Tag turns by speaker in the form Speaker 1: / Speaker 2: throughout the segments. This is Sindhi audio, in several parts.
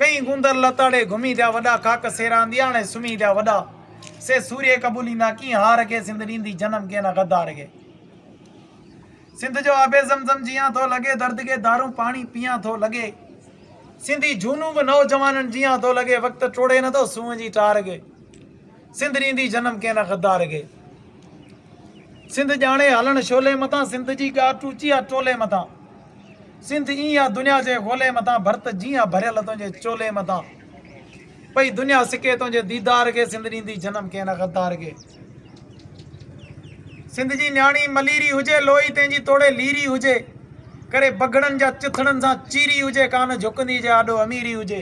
Speaker 1: ڪئين گوندر لتاڙي گهمي جا وڏا ڪاڪ سيرا اندياڻي سمهي جا وڏا سي سوري قبوليندا ڪين هار کي سنڌ ڏيندي جنم ڪين غدار کي سنڌ جو آب زمزم جيان ٿو لڳي درد کي دارون پاڻي پيان ٿو لڳي سنڌي جهونون به نوجوانن جيان ٿو لڳي وقت ٽوڙي نه ٿو سونهن جي ٽار کي سنڌ ڏيندي جنم ڪين غدار کي سنڌ ڄاڻي هلڻ شولي مٿان سنڌ جي ڳاٽ اچي آ ٽولي مٿان سنڌ ايئن آ دنيا جي غولي مٿان ڀرت جيئن آ ڀريل تنهنجي چولي مٿان پئي دنيا سڪي تنهنجي ديدار کي سنڌ ڏيندي جنم ڪنهن نه غدار کي سنڌ جي نياڻي مليري هجي لوئي تنهنجي توڙي ليري هجي ڪري بگهڙن جا چٿڙن سان چيري هجي ڪانه جهڪندي جي آڏو اميري هجي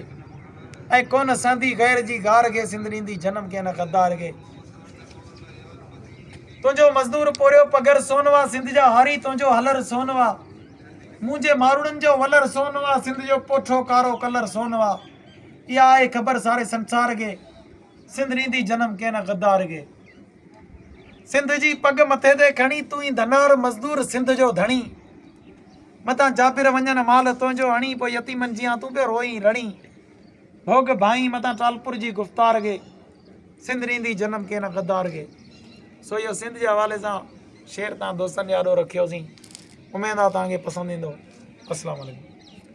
Speaker 1: ۽ ڪونه سهندي غير جي گار کي سنڌ ڏيندي جنم ڪنهن نه غدار کي تنهنجو مزدور پورهيو پگهر سونوا سنڌ جا هاري تنهنجو هلر سونوا منهنجي ماروڙن جو ولر سونوا سنڌ جو پوٺو ڪارو ڪلر سونوا اها آهي خبر ساري سنسار کي سنڌ ڏيندي جنم ڪنهن غدار کي سنڌ جي پڳ مٿي تي کڻي تون ئي ڌنار مزدور سنڌ جو ڌڻي متان جابر وڃن مال تنهنجو اڻي پوء يتيمن جيان تون پيو روئين رڙين ڀوڳ ڀائين متان ٽالپور جي گفتار کي سنڌ ريندي جنم ڪي نه غدار کي سو اهو سنڌ جي حوالي سان شعر تان دوستن جي آڏو رکيوسين اميد آ تان کي پسند ايندو اسلام عليڪم